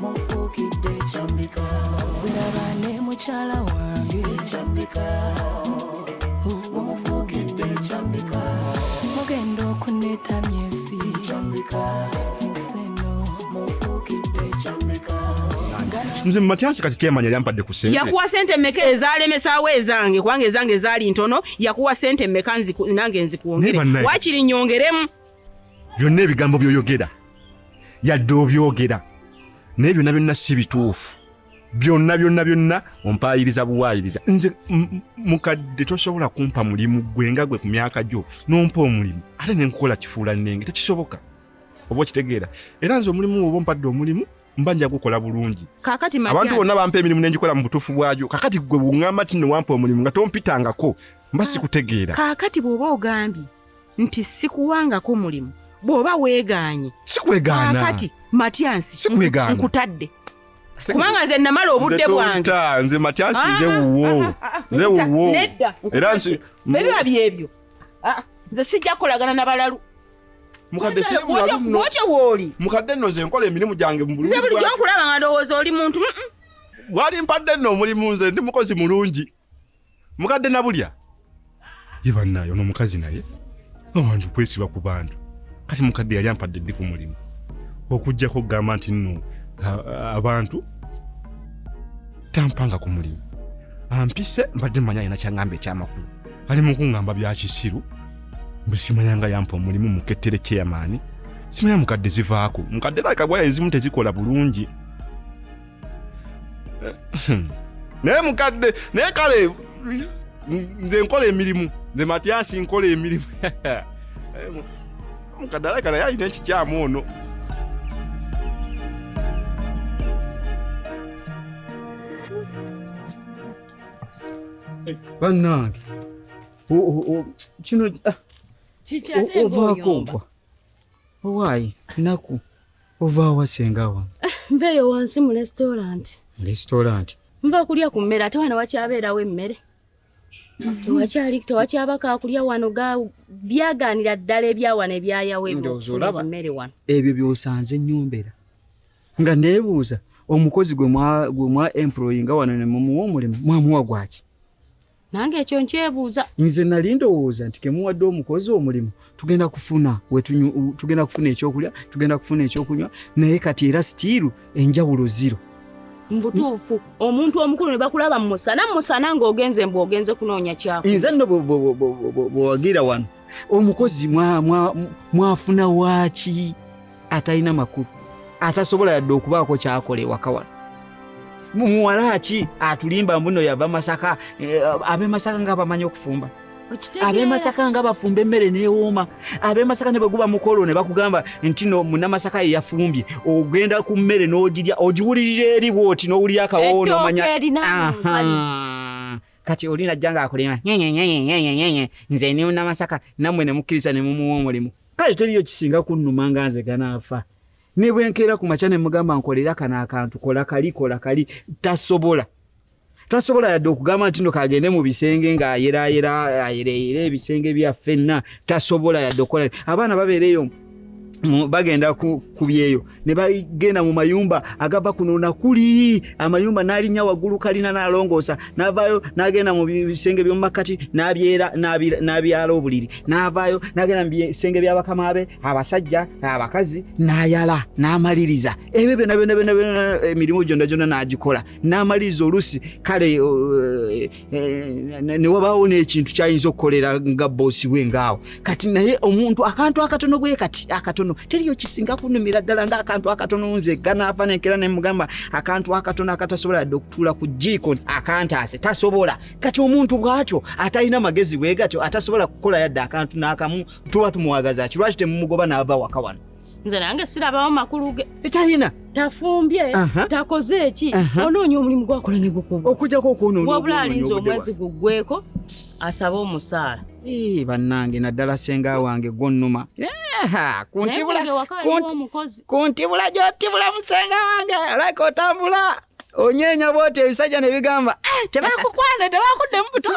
mufuukidde ekyambika weraba ne mukyala wange ekyambika mumufuukidde ekyambika mugenda okuneta myesi ekyambika enseno mufuukidde ekyambika nze mumatyansi kati kemanya lyampadde ku sente yakuwa sente meka ezalemesaawo ezange kubanga ezange ezaali ntono yakuwa sente meka nange nzikuwongere wakiri nyongeremu byonna ebigambo byoyogera yadde obyogera naye byonna byonna si bituufu byonna byonna byonna ompaayiriza buwaayiriza nze mukadde tosobola kumpa mulimu gwe nga gwe ku myaka gyo nompa omulimu ate nenkukola kifuula nenge tekisoboka oba okitegeera era nze omulimu oba ompadde omulimu mba nja gukola bulungi kakati abantu bonna bampa emirimu nengikola mu butuufu bwayo kakati gwe bungamba ti newampa omulimu nga tompitangako mba sikutegeera kakati bwoba ogambye nti sikuwangako mulimu bw'oba weegaanye sikwegaana kati matyansi sikwegaana nkutadde kubanga nze namala obudde bwange nze matyansi ah, nze ah, wuwo ah, nze wuwo nedda era nsi bebiba byebyo nze sijja kukolagana na balalu mukadde si mulalu nno otya wooli mukadde nno nze nkola emirimu gyange mu bulungi nze bulijjo nkulaba nga ndowooza oli muntu wali mpadde nno omulimu nze ndi mukozi mulungi mukadde nabulya ye bannaye ono omukazi naye abantu kwesiba ku bantu kati mukadde yali ampadde ddi ku mulimu okuggyako okugamba nti nno abantu tampanga ku mulimu ampise mbadde manya alina kyangamba ekyamakulu ali mu kuŋŋamba bya kisiru mbu simanya nga yampa omulimu mukettere kyeyamaani simanya mukadde zivaako mukadde nakagwayo ezimu tezikola bulungi naye mukadde naye kale nze nkola emirimu nze matyasi nkola emirimu mukadde alabika naye alina ekikyamu ono bannange kino ah, ovaako ogwa owaayi nnaku Ova wa senga wa? Eh, nveyo wansi mu restaurant. Mu restaurant. Nva kulya ku mmere ate wano wakyabeerawo emmere. Tewakyali tewakyabaka kulya wano ga byagaanira ddala ebya wano ebyayawo eby'emmere wano. Ebyo by'osanze nyombera. Nga neebuuza omukozi gwe mwa gwe mwa employinga wano ne mumuwa omulimu mwamuwa gwaki? nange ekyo nkyebuuza nze nali ndowooza nti kemuwadde omukozi omulimu tugenda kufuna tugenda kufuna ekyokulya tugenda kufuna ekyokunywa naye kati era sitiiru enjawulo ziro mbutuufu omuntu omukulu ne bakulaba mu musana musana ng'ogenze mbu ogenze kunoonya kyako nze nno bwewagira wano omukozi mwafuna waaki atalina makulu atasobola yadde okubaako kyakola ewaka wano muwala ki atulimba mbuno yava masaka eh, abemasaka nga bamanyi okufumba abemasaka nga bafumba emmere newooma abemasaka ne bweguba mukolo ne bakugamba nti no munamasaka yeyafumbye ogenda ku mmere n'ogirya ogiwulirira eri bwoti n'owulira akawoo nomanya kati oli najja nga akulima nze ni munamasaka nammwe ne mukkiriza ne mumuwa omulimu kale teriyo kisinga kunnuma nga nze ganaafa ne bwe nkeera ku makya ne mugamba nkolera kano akantu kola kali kola kali tasobola tasobola yadde okugamba nti no kagende mu bisenge ng'ayeraayera ayereeyera ebisenge byaffenna tasobola yadde okukola abaana babeera eyo bagenda ku kubyeyo ne bagenda mu mayumba agava kuno na kuli amayumba n'alinya waggulu kalina n'alongoosa n'avaayo n'agenda mu bisenge by'omu makkati n'abyera n'abyala obuliri n'avaayo n'agenda mu bisenge by'abakama be abasajja abakazi n'ayala n'amaliriza ebyo byona byona byona byona emirimu gyonna gyonna n'agikola n'amaliriza olusi kale eh, eh, ne wabaawo n'ekintu kyayinza okukolera nga boosi we ngaawo kati naye omuntu akantu akatono bwe kati akatono teriyo kisinga kunumira ddala nga akantu akatono nze ganaafa nenkera ne mugamba akantu akatono akatasobola yadde okutuula ku jiiko akantaase tasobola kati omuntu bwatyo atalina magezi bwe gatyo atasobola kukola yadde akantu n'akamu tuba tumwagaza ki lwaki temumugoba n'ava waka wano nze nange sirabawo makulu ge ekyayina tafumbye takoze eki onoonya omulimu gwakola ne gukuba okujjako okwonoonawabula alinza omwezi guggweko asaba omusaala bannange naddala senga wange gwonnuma ku ntibula gyotibula musenga wange olaka otambula onyeenya bwoti ebisajja ne bigamba eh, tebakukwana tebakuddemu buto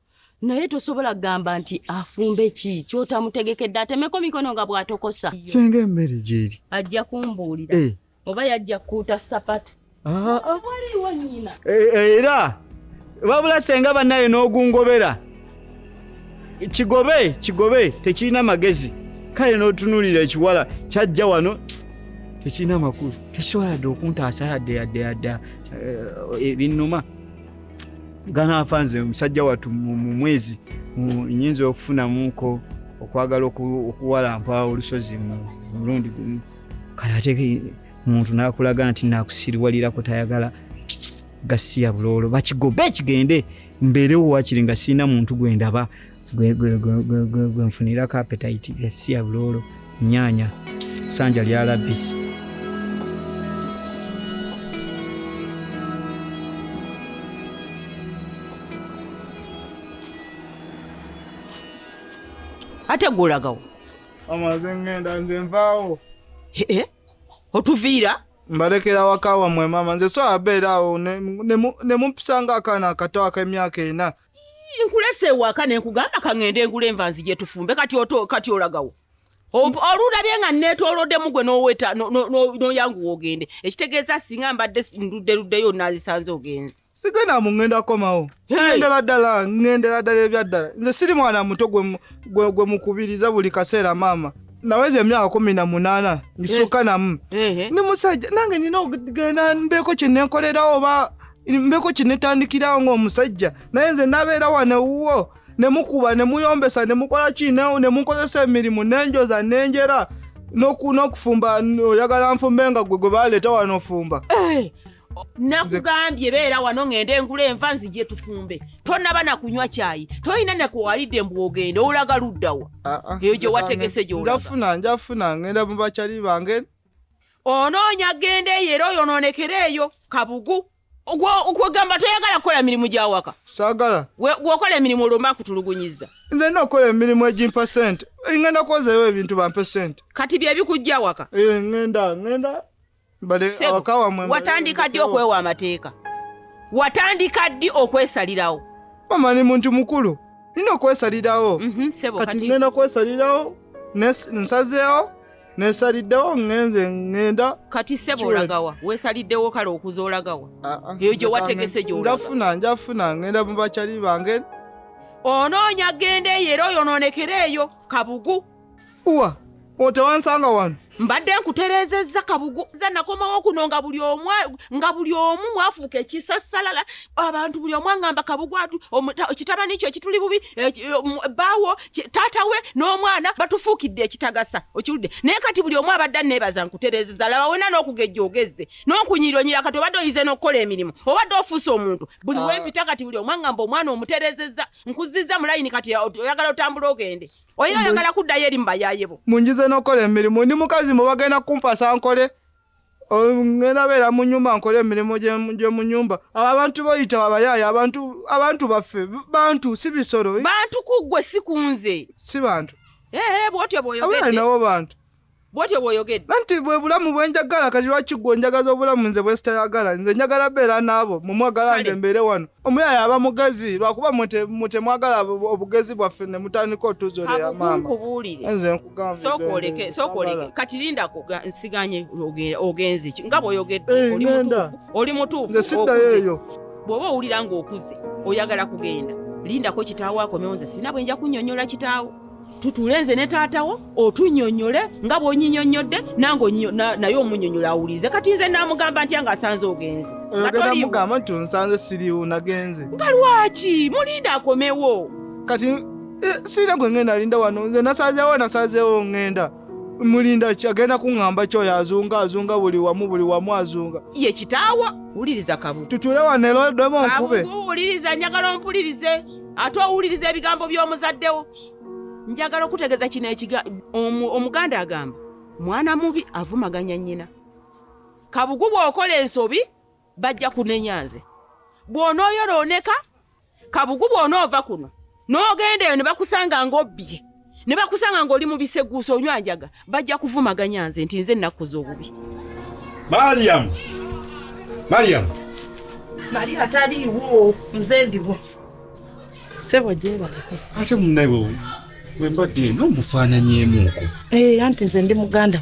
naye tosobola kugamba nti afumbe ki kyotamutegekedde atemeko mikono nga bwatokosa senga emmere gyeri ajja kumbuulira eh. oba yajja kukuuta sapatu ah, ah. waliwo nyina eh, eh, era wabula senga bannaye n'ogungobera kigobe kigobe tekirina magezi kale n'otunuulira ekiwala kyajja wano tekirina makulu tekisobola dde okuntaasa yadde yadde yadde ebinnuma ganaafa nze omusajja wattu mu mwezi nyinza okufunamuko okwagala okuwalampa olusozi mu mulundi gumu kale ate muntu nakulaga nti nakusiriwalirako tayagala gasiya buloolo bakigobe kigende mbeerewo wakiri nga sirina muntu gwendaba gwe nfunira ka appetite esiya buloolo nyaanya sanja lya labisi ate gwolagawo amaze ngenda nze nvaawo ee otuviira mbalekera waka wamwe mama nze so abeera awo ne mumpisa nga akaana akato ak'emyaka ena ne nkulese ewaka nenkugamba kaŋende engula enva nzije tufumbe kati kati olagawo olulabye nga netolodemu gwe noweta noyanguwa ogende ekitegeeza singa mbadde nduddeluddeyo nazisanze ogenzi sigenda muŋenda komawo ŋendera ddala ŋendera ddala ebyaddala nze siri mwana muto gwe mukubiriza buli kaseera maama naweza emyaka kumi na munana ngisuka eh. namu eh, eh. ndi musajja nange nina okugenda mbeeko kyenenkolerawo oba mbeko kinetandikirawo ng'omusajja naye nze nabeera wano wuwo ne mukuba ne muyombesa ne mukola ki ne munkozesa emirimu nenjoza nenjera n'okufumba oyagala nfumbe nga gwe gwe baleeta wano ofumba eh, nakugambye beera wano ng'enda engula enva nzije tufumbe tonaba na kunywa kyayi tolina nakuwalidde mbu ogenda olaga luddawa ah, ah, eyo gye wategese gyolagafuna njafuna ngenda mu bakyali bange onoonya genda eyo era oyonoonekera eyo kabugu kwegamba toyagala kukola mirimu gyawaka sagala gwokola emirimu olwomba kutulugunyiza nze nina okukola emirimu egimpa sente ngenda kwozayo ebintu bampe sente kati byebikujja waka eh, ngenda ngenda watandika ddi okwewa amateeka watandika ddi okwesalirawo mama ni muntu mukulu nina okwesalirawo mhm, kati ngenda kwesalirawo nsazeewo nesaliddewo ngenze ngenda kati sebo olagawa wesaliddewo kale okuza olagawa ah, ah. eyo gye wategese gyonjafuna njafuna ngenda mu bakyali bange onoonya genda eyo era oyonoonekera eyo kabugu uwa otewansanga wano mbadde nkutereezezza kabugu za nakomawo kuno nga buli omu nga buli omu mwafuuka ekisasalala abantu buli omu angamba kabugu atu kitabani kyo ekituli bubi baawo taata we n'omwana batufuukidde ekitagasa okiwulidde naye kati buli omu abadde anneebaza nkutereezeza laba wena n'okugejja ogezze n'okunyiironyira kati obadde oyize n'okukola emirimu obadde ofuuse omuntu buli ah. wempita kati buli omwangamba omwana omutereezezza nkuzizza mu layini kati oyagala otambula ogende oyina oyagala kuddayo eri mu bayaayebo munjize n'okukola emirimu ndi mukazi mu bagenda kumpasa nkole ngenda beera mu nyumba nkola emirimu gyomu nyumba abo abantu boyita babayaaya abantu abantu baffe bantu si bisolo eh? bantu kuggwe si kunze si bantu ee bwotyo bwoyogedde nawo bantu bwotyo bwoyogedde nanti bwe bulamu bwenjagala kati lwaki gwe onjagaza obulamu nze bwesitayagala nze njagala beera naabo mumwagala nze mbeere wano omuyaaya aba mugezi lwakuba mutemwagala obugezi bwaffe ne mutandika otuzoleya maama sokoleke kati lindako nsiganye ogenze ki nga bwoyogedde eh, oli mutuufu oli mutuufu bw'oba owulira ng'okuze oyagala kugenda lindako kitaawo akomewo nze sina bwe nja kunyonyola kitaawo tutuule nze ne taatawo otunyonyole nga bwonyinyonyodde nange naye omunyonyola awulirize kati nze namugamba ntya nga asanze ogenze ngatoliamugamba nti onsanze siriwo nagenze nga lwaki mulinda akomewo kati Eh, siina gwe ngenda alinda wano nze nasazewo nasazewo ngenda mulinda ki agenda kuŋŋamba kyoyo azunga azunga buli wamu buli wamu azunga ye kitaawo wuliriza kabu tutule wanelo demu nkube wuliriza njagala ompulirize ate owuliriza ebigambo by'omuzaddewo njagala okutegeza kino ekiga omuganda agamba mwana mubi avumaganya nnyina kabugu bw'okola ensobi bajja kunenya nze bw'onooyonooneka kabugu bw'onoova kuno n'ogenda eyo ne bakusanga ng'obbye ne bakusanga ng'oli mu biseguusa onywa njaga bajja kuvumaganya nze nti nze nnakuza obubi mariyamu mariyamu mali ataliiwo nze ndiwo sebo gyebaleko ate munnawe wembadde n'omufaananyemuuko eh, anti nze ndi muganda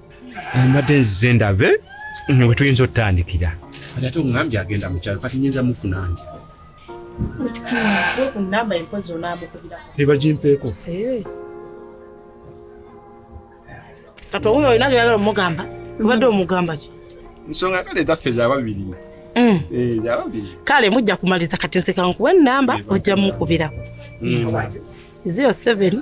mbadde nzize ndabe mm, we tuyinza otutandikira kati ate ongambye agenda mukyalo kati nyinza mufuna nti kunamba empozi onamukubira ebagimpeeko eh. kati owuyo olina gyoyagala omugamba obadde omugamba ki nsonga kale ezaffe zababiri mm. eh, zababiri kale mujja kumaliza kati nsekankuwa enamba ojja mukubirako mm. zero seven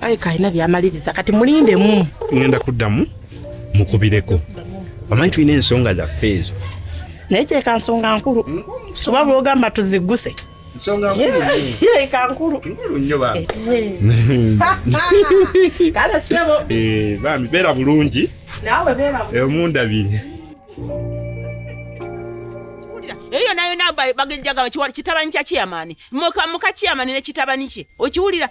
aye kalina byamaliriza kati mulinde mu ngenda kuddamu mukubireko amanyi tulina ensonga zaffe ezo naye kyeka nsonga nkulu soba lwogamba tuziguse kale sebo eh, bambi beera bulungi nawe beera eh, omundabire eyo nayo nagwa bagenjaga kitabani kya kiyamani muka kiyamani ne kitabani kye okiwulira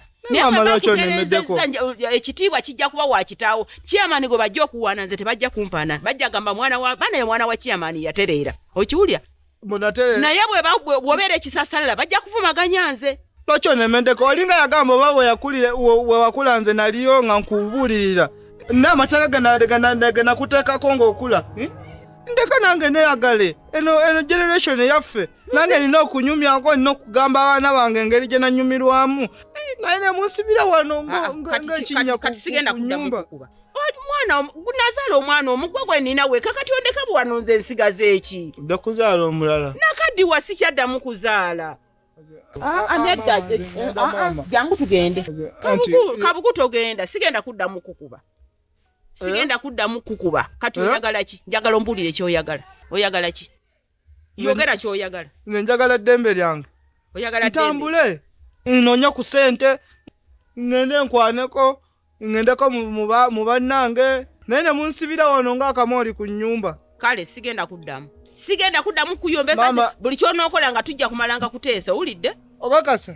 ekitiibwa kijja kuba wakitaawo kyamani gwe bajja okuwaana nze tebajja kumpaana bajja gamba mwana wa baana ye mwana wa kyamani yatereera okiwulya naye bwobeera ekisasalala bajja kuvumaganya nze lwaki onemendeko olinga yagamba oba wewakula nze naliyo nga nkubuulirira naamateeka genakuteekako ngaokula hm? ndeka nange neyagale eno generation yaffe nange nina okunyumyako nina okugamba abaana bange engeri gye nanyumirwamu eh, naye nemunsibira wano ah, ah, ngaekinyakati sigenda kunyumba mwana nazaala omwana omugwa gwe nina weka kati ondeka bwewano nze ensigaza eki odda kuzaala omulala nakaddiwa sikyaddamu kuzaala ah, nedda eh, eh, jangu tugende kabuku togenda sigenda kuddamu kukuba sigenda kuddamu kukuba kati oyagala ki njagala ombuulire kyoyagala oyagala ki yogera kyoyagala nze njagala eddembe lyange ntambule nonya ku sente ngende nkwaneko ngendeko mu bannange naye ne munsibira wano ng'akamooli ku nnyumba kale sigenda kuddamu sigenda kuddamu kuyombesa buli kyonookola nga tujja kumalanga kuteesa owulidde okakasa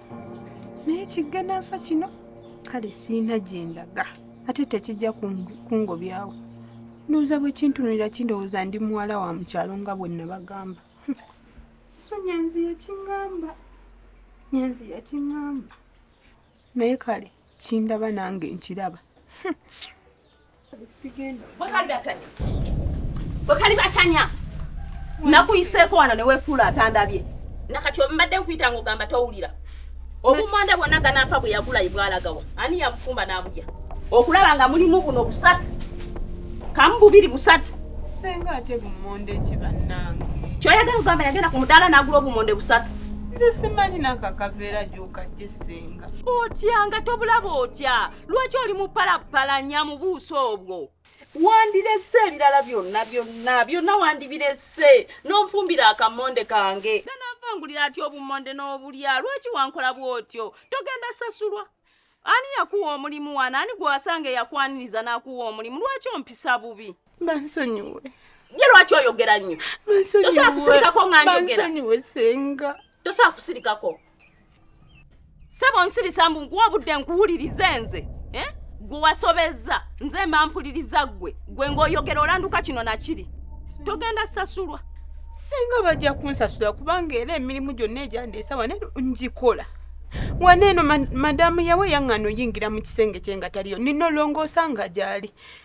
naye kiggana nfa kino kale siina gye ndaga ate tekijja kungobyawo ndowooza bwe kintunulira kindowooza ndi muwala wa mukyalo nga bwe nabagamba so nyanzi yakingamba nyanzi yakingamba naye kale kindaba nange nkiraba bwekali batanya nakuyiseeko wano newekuula atandabye nakati ombadde nkuyita nga ogamba towulira obumanda bwonna ganaafa bwe yagulayi bwalagawa ani yabufumba n'abulya okulaba nga mulimu buno busatu kamu bubiri busatu senga ate bumonde ki bannange kyoyagala ogamba yagenda ku mudaala n'agula obumonde busatu nze simanyi nakakaveera gyokajje senga otya nga tobulaba otya lwaki oli mupalapalanya mu buuso obwo wandirese ebirala byonna byonna byonna wandibirese n'onfumbira akamonde kange ganavangulira ati obumonde n'obulya lwaki wankola bw'otyo togenda sasulwa ani yakuwa omulimu wano ani gwewasanga eyakwaniriza n'akuwa omulimu lwaki ompisa bubi bansonyiwe ye lwaki oyogera nnyo tosobola kusirikako nga njogera tosobola kusirikako sebo nsirisa mbu nkuwa obudde nkuwulirize nze eh? gwe wasobezza nze mba mpuliriza ggwe gwe ng'oyogera olanduka kino nakiri togenda sasulwa singa bajja kunsasula kubanga era emirimu gyonna egyandeesa wane ngikola waneeno madamu yawe yaŋŋana oyingira mu kisenge kye nga taliyo nina olongoosa nga gyali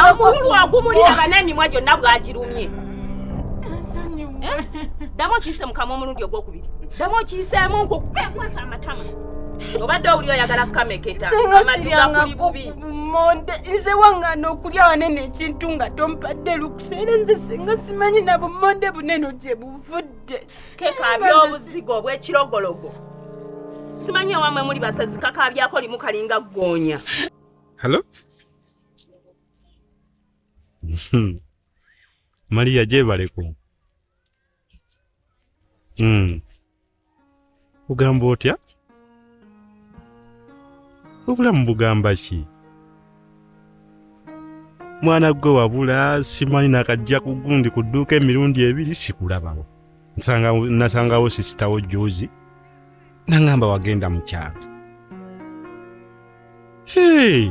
amukulu agumulira banamimwa gyonna bwagirumye ddamu okiyise mukama omulundi ogwokubiri ddamu okiyiseemu nkukwasa amatama obadde owuli oyagala kukameketa amaduga kuli bubi monde nze wangana okulya wanene ekintu nga tompadde lukuseera nze singa simanyi na bumonde buneno gye buvudde kekaabya obuzigo obwekirogologo simanyi ewamwe muli basazikakaabyako limu kalinga ggoonya Hello? Hmm. Maria gyebaleko hmm. ogamba otya obulamu bugamba ki mwana gwe wabula simanyi nakajja kugundi ku dduuka emirundi ebiri sikulabawo nasangawo sisitawo juzi nangamba wagenda mukyalo hey!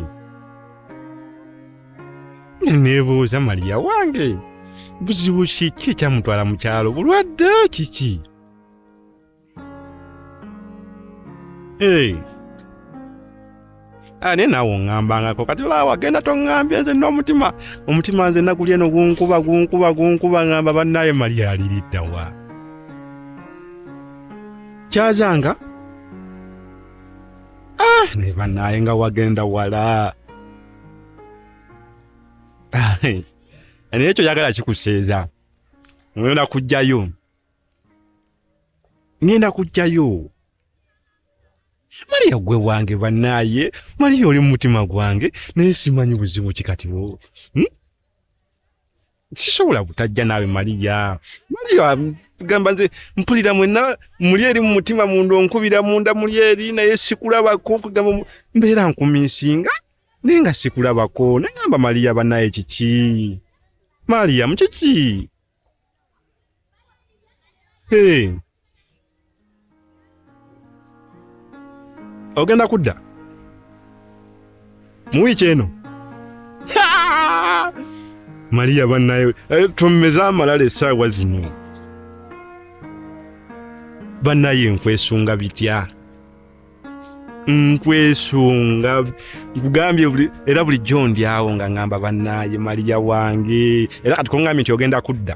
nebuuza maliya wange buzibu kiki ekyamutwala mukyalo bulwadde kiki Hey. Ah, naye naawe oŋŋambangako kati laawa genda toŋŋambye nze n'omutima omutima nze naguli eno gunkuba gunkuba gunkuba ŋŋamba bannaaye mali aliridda wa kyazanga ah, naye bannaaye nga wagenda wala ah, naye ekyo yagala kikuseeza oyona kujjayo ngenda kujjayo maliya gwe wange banaye maliya oli mumutima gwange naye simanyi buzibu kikatiwo hmm? sisobola butajja naawe maliya maliya gamba nze mpulira mwena muli eri mumutima munda onkubira munda muli eri naye sikulabako kugamba mbeera nkuminsinga naye nga sikulabako nagamba maliya banaye kiki maliya mukiki Hey. Ogenda kudda mu wiiki eno Maria banaye eh, tummeze amalala essaawa zino banaye nkwesunga bitya nkwesunga nkugambye era bulijjo ndyawo nga ngamba bannaaye maliya wange era kati kongambye nti ogenda kudda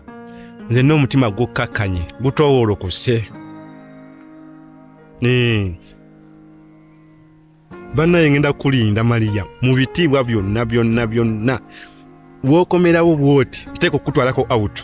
nze n'omutima gukkakkanye gutowolokose bannaye ngenda kukulinda maliya mu bitiibwa byonna byonna byonna wokomerawo bwoti nteeka okukutwalako awutu